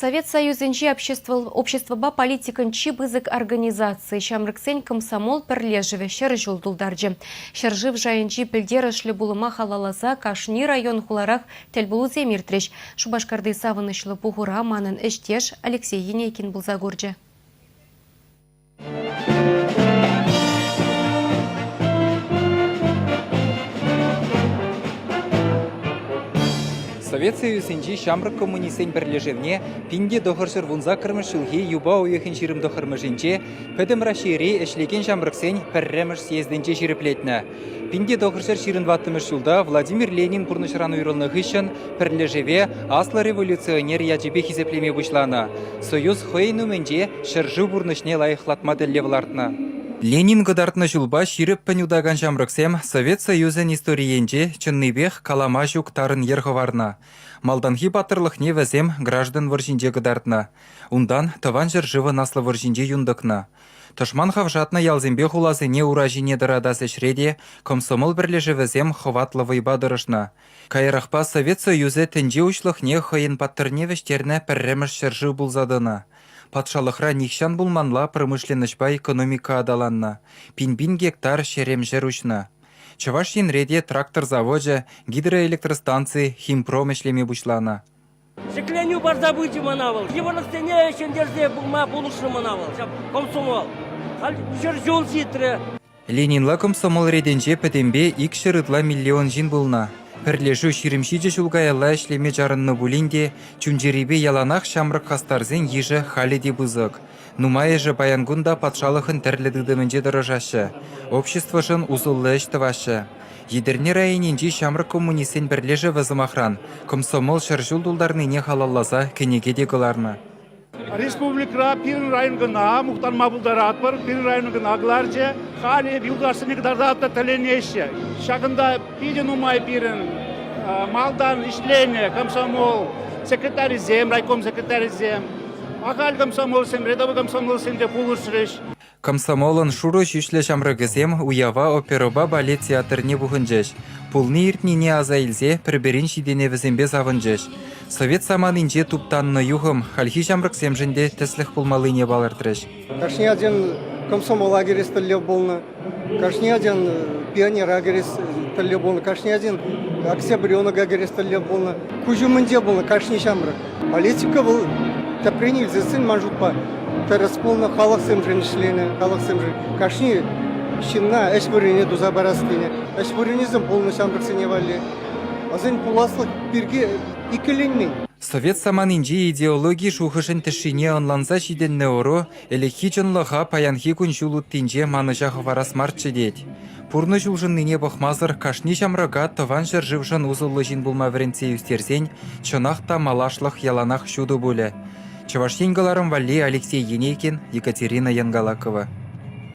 Совет Союзӗнчи обществӑпа политикӑн чи пысӑк организацийӗ ҫамрӑксен комсомол пӗрлешӗвӗ ҫӗр ҫул тултарчӗ. Ҫӗршыв шайӗнчи пӗлтерӗшлӗ пулӑма халалласа кашни район-хуларах тӗлпулусем иртрӗҫ. Шупашкарти савӑнӑҫлӑ пухура манӑн ӗҫтеш Алексей Енейкин пулса курчӗ. Совет Союзӗнчи ҫамрӑк коммунистсен пӗрлешӗвне пин те тӑхӑрҫӑр вун саккӑрмӗш ҫулхи юпа уйӑхӗн ҫирӗм тӑхӑрмӗшӗнче Пӗтӗм Раҫҫейри ӗҫлекен ҫамрӑксен пӗрремӗш съездӗнче ҫирӗплетнӗ. Пинте тӑхӑрҫӗр ҫирӗн ваттӑмӗш ҫулта Владимир Ленин пурнӑҫран уйрӑлнӑ хыҫҫӑн пӗрлешӗве аслӑ революционер ячӗпе хисеплеме пуҫланӑ. Союз хӑйӗн умӗнче ҫӗршыв пурнӑҫне лайӑхлатма тӗллев лартнӑ. Ленин кӑтартнӑ ҫулпа ҫирӗппӗн утакан ҫамрӑксем Совет Союзӗн историйӗнче чӑннипех калама ҫук тарӑн йӗр хӑварнӑ. Малтанхи паттӑрлӑхне вӗсем граждан вӑрҫинче кӑтартнӑ. Унтан Тӑван ҫӗршывӑн Аслӑ вӑрҫинче юн тӑкнӑ. Тӑшман хавшатнӑ ялсемпе хуласене ура ҫине тӑратас ӗҫре те комсомол пӗрлешӗвӗсем хӑватлӑ вӑйпа тӑрӑшнӑ. Каярахпа Совет Союзӗ тӗнче уҫлӑхне хӑйӗн паттӑрне вӗҫтернӗ пӗрремӗш ҫӗршыв пулса тӑнӑ. Патшалӑхра нихҫан пулманла промышленноҫпа экономика аталаннӑ, пин-пин гектар ҫерем-ҫӗр уҫнӑ. Чӑваш Енре те трактор завочӗ, гидроэлектростанци, химпром ӗҫлеме пуҫланӑ. Ҫӗкленӳ парса пычӗ мана вӑл. Йывӑрлӑхсене ҫӗнтерсе пыма пулӑшрӗ мана вӑл. Ҫав комсомол. Халь ҫӗр ҫул ҫитрӗ. Ленинла комсомол ретӗнче пӗтӗмпе икҫӗр ытла миллион ҫын пулнӑ. Пӗрлешӳ ҫирӗм ҫичӗ ҫул каялла ӗҫлеме чарӑннӑ пулин те чун-чӗрипе яланах ҫамрӑк хастарсен йышӗ халӗ те пысӑк. Нумайӑшӗ паян кун та патшалӑхӑн тӗрлӗ тытӑмӗнче тӑрӑшаҫҫӗ, обществӑшӑн усӑллӑ ӗҫ тӑваҫҫӗ. Етӗрне районӗнчи ҫамрӑк коммунистсен пӗрлешӗвӗ, сӑмахран, комсомол ҫӗр ҫул тултарнине халалласа кӗнеке те кӑларнӑ. Республикӑра пирӗн район кӑна мухтанма пултаратпӑр, пирӗн район кӑна кӑларчӗ. Халӗ эп юлташсене кӑтартатӑп та тӗлӗнеҫҫӗ. Ҫакӑнта питӗ нумай пирӗн малтан ӗҫленӗ комсомол секретарӗсем, райком секретарӗсем. Ахаль комсомолсемре те комсомолсемпе пулӑшрӗҫ. Комсомолӑн шурӑ ҫӳҫлӗ ҫамрӑкӗсем уява оперӑпа балет театрне пухӑнчӗҫ. Пулни-иртнине аса илсе пӗр-пӗрин ҫитӗнӗвӗсемпе савӑнчӗҫ. Совет саманинче туптаннӑ юхӑм хальхи ҫамрӑксемшӗн те тӗслӗх пулмаллине палӑртрӗҫ. Кашни ачан комсомол лагерес тӗллев пулнӑ. Кашни ачан пионер лагерес тӗллев пулнӑ. Кашни ачан аксябренок лагерес тӗллев пулнӑ. Куҫ умӗнче пулнӑ кашни ҫамрӑк. Политика вӑл тӗпрен илсессӗн ман шутпа тӗрӗс пулнӑ, халӑхсемшӗн ӗҫленӗ, халӑхсемшӗн кашни ҫынна ӗҫ вырӑнне туса парас тенӗ. Ӗҫ вырӑнӗсем пулнӑ ҫамрӑксене валли. Вӗсен пуласлӑх пирки иккӗленмен. Совет саманинчи идеологи шухӑшӗн тӗшшине ӑнланса ҫитӗннӗ ӑру ӗлӗкхи чӑнлӑха паянхи кун-ҫул уттинче манӑҫа хӑварас марччӗ тет. Пурнӑҫ улшӑннине пӑхмасӑр кашни ҫамрӑка тӑван ҫӗршывшӑн усӑллӑ ҫын пулма вӗрентсе ӳстерсен чӑнах та малашлӑх яланах ҫутӑ пулӗ. Чӑваш Ен кӑларӑм валли Алексей Енейкин, Екатерина Янгалакова.